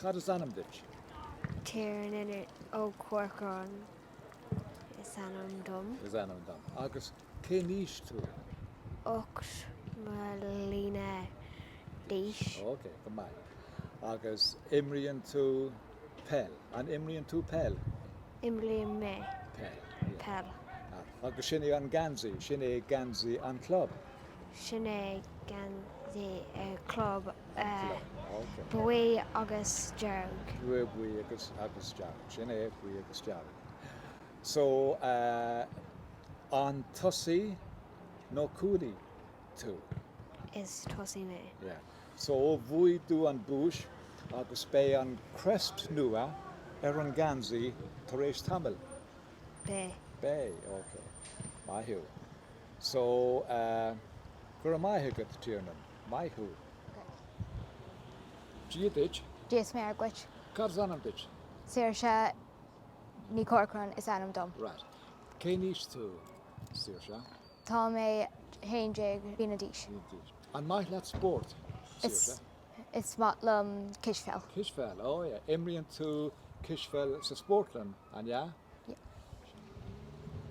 Cad is ainm duit? Tiernan Ó Corcráin is ainm dom. is ainm dom. Agus cén aois tú? ocht mbliana d'aois. Ok, go maith. Agus imríonn tú? Peil. An imríonn tú peil? Imrím mé Peil. peil. Ah. Agus sin é an geansaí, sin é geansaí an chlub? Sin é geansaí an chlub. An chlub. Ah, ok. Buí agus dearg. Buí, buí agus, agus dearg. Sin é, buí agus dearg. So, eh, an tosaí nó cúlaí tú? Is tosaí mé. Yeah. So bhuaigh tú an duais agus beidh an crest nua ar an geansaí tar éis tamaill. Beidh. Beidh, ok. Maith thú. So, go raibh maith agat, Tiernan. Maith thú. Dia duit. Dia is Muire dhuit. Cad is ainm duit? Saoirse Ní Chorcráin is ainm dom. Right. Cén aois tú, Saoirse? Tá mé haon déag bliana d'aois. An maith leat spórt, Saoirse? Is maith liom cispheil. Cispheil, oh yeah. Imríonn tú cispheil sa spórtlann, an ea?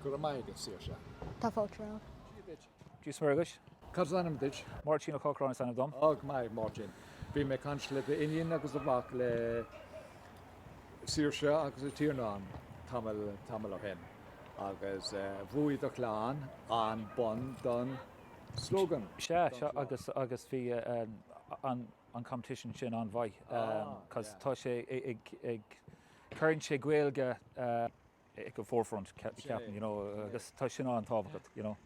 Go raibh maith agat, Saoirse. Tá fáilte romhat. Dia duit. Dia is Muire dhuit. Cad is ainm duit? Máirtín Ó Corcráin is ainm dom. Go maith, Máirtín. Bhí mé ag caint le d'iníon agus do mhac, le Saoirse agus le Tiernan tamall ó shin agus bhuaigh do chlann an bonn don Slogan? Sea, sea agus, agus bhí an, an competition sin an-mhaith cos tá sé ag, ag, cuireann sé Gaeilge ag an forefront ceapaim, you know, agus tá sin an-tábhachtach, you know.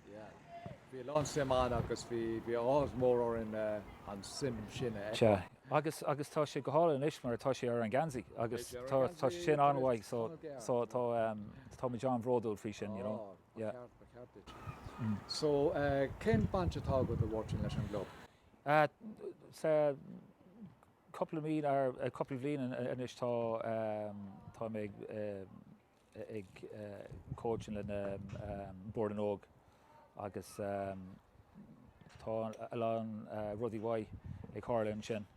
Bhí a lán suim ann agus bhí, bhí áthas mór orainn an suim sin a fheiceáil. Sea, agus, agus tá sé go hálainn anois mar tá sé ar an geansaí agus tá, tá sin an-mhaith so, so tá, táimid an-bhródúil faoi sin, you know. Ba cheart, ba cheart duit. So, cén baint atá agat, a Mháirtín, leis an gclub? Sea, cúpla mí nó cúpla bliain anois tá, tá mé ag coaching lena Bord na nÓg agus tá a lán rudaí mhaith ag tharla ansin.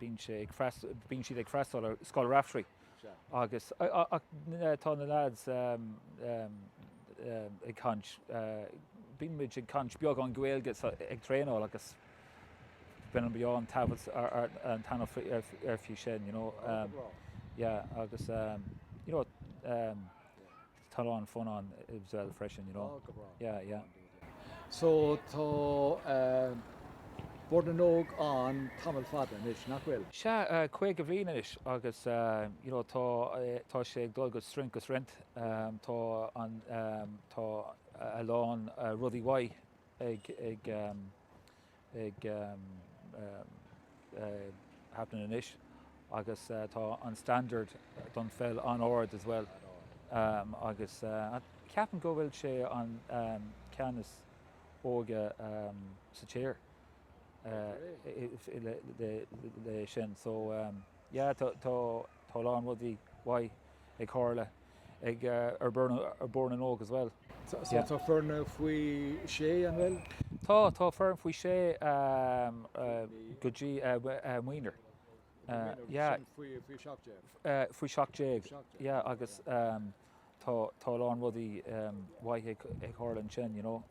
bíonn sé ag freastal, bíonn siad ag freastal ar Scoil Raifteirí agus ach tá na lads ag caint, bíonn muid ag caint beagán Gaeilge so ag traenáil agus bíonn an, bíonn an taifead an t-ainm ar faoi sin, you know, yeah agus, you know, Tá a lán fun ann as well freisin, you know. Yeah, yeah. So tá Bord na nÓg ann tamall fada anois, nach bhfuil? Sea, caoga bhliain anois agus you know tá tá sé ag dul go strength go strength. Tá an tá a lán rudaí mhaith ag ag ag happening anois agus tá an standard don pheil an-ard as well agus ceapaim go bhfuil sé an ceannas óige sa tír le sin so yeah tá. Tá a lán rudaí mhaith ag tharla ag ar Bhord na nÓg as well. So tá foireann faoi shé an bhfuil? Tá, tá foireann faoi shé go dtí minor. Minor, sin faoi seacht déag? Faoi seacht déag, yeah agus tá a lán rudaí mhaith ag tharla ansin, you know.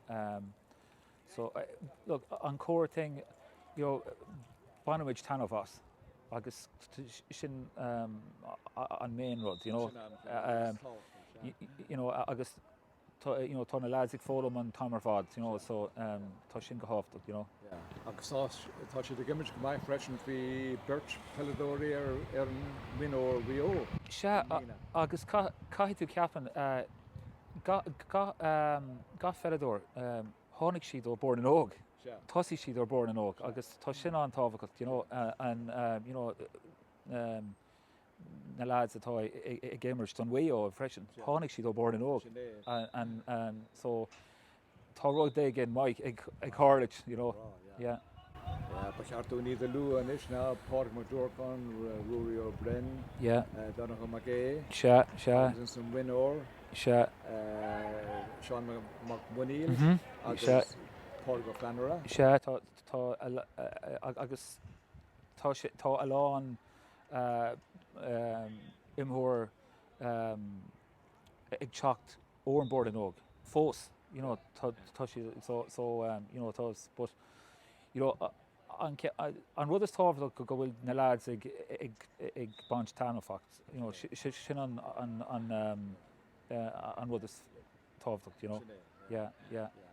So, look, an core thing, you know, bainimid taitneamh as agus sin an main rud, you know. You know, agus tá, you know, tá na lads ag foghlaim an t-am ar fad, you know, so tá sin go thábhachtach, you know. Yeah, agus tá siad ag imirt go maith freisin, bhí beirt peileadóirí ar an minor Mhaigh Eo i mbliana. Sea, agus caithfidh tú ceapann, gach pheileadóir, tháinig siad ó Bhord na nÓg, tosaigh siad ó Bhord na nÓg agus tá sin an-tábhachtach, you know, an, you know, na lads atá ag imirt don Mhaigh Eo freisin, tháinig siad ó Bhord na nÓg, so, Tá rud éigin maith ag tharlú, you know, yeah. Ba cheart dúinn iad a lua anois, ná? Pádraig Mac Durcáin, Ruairí Ó Broin, Donnchadh Mac Aodha, Tomás an mhionúir, Seán Mac Muiníl agus Pádraig Ó Feannaire. Sea, agus tá a lán imreoir. ag teacht ó an Bord na nÓg fós you know tá tá siad so so you know tá but you know an an rud is tábhachtach go go bhfuil na lads ag ag ag baint taitneamh fact you know si sin an an an an rud is tábhachtach you know yeah yeah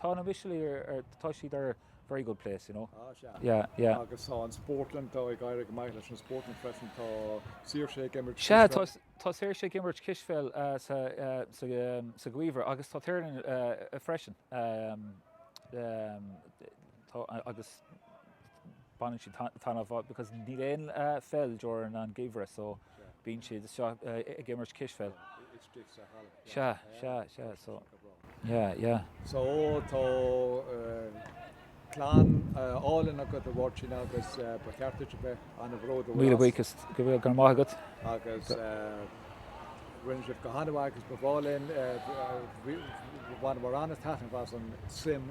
Tá na Mistéil ar, ar, tá siad ar very good place, you know. Ah, sea. Yeah, yeah. Agus tá an Spórtlann, tá ag éirí go maith leis an Spórtlann freisin, tá Saoirse ag imirt cispheil. Sea, tá, tá Saoirse ag imirt cispheil sa, sa, sa gheimhreadh agus tá Tiernan freisin. Tá, agus baineann siad taitneamh as because níl aon pheil during an gheimhreadh so bíonn siad anseo ag imirt cispheil. It's drifts a halla. Sea, sea, sea, so yeah, yeah. So tá clann álainn agat a Mháirtín agus ba cheart duit a bheith ana bhródúil as. Míle buíochas, go raibh maith agat. Agus rinne sibh go hana mhaith agus ba mhaith linn, bhaineamar ana-taitneamh as an suim.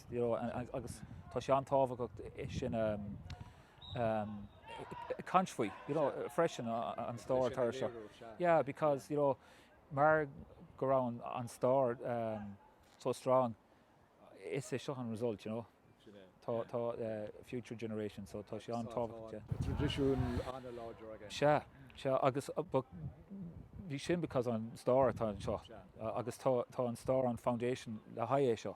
You know, agus tá sé an-tábhachtach é sin a caint faoi, you know, freisin an stair atá anseo. Yeah, because, you know, mar go raibh an stair so strong, is é seo an result, you know. Sin é. Tá, tá future generation, so tá sé an-tábhachtach, yeah. Tá traidisiún an-láidir againn. Sea, sea, agus but bhí sin because an stair atá anseo. Sea. Agus tá, tá an stair an foundation le haghaidh é seo.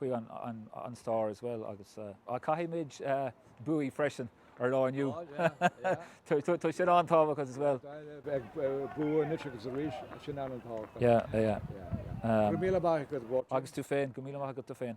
faoi an stair as well agus caithfimid buachaint freisin ar lá inniu. Tá sin an-tábhachtach as well. Bua anois agus arís, sin an-tábhachtach. Yeah, yeah. Go raibh míle maith agat Mháirtín. Agus tú féin, go míle maith agat tú féin.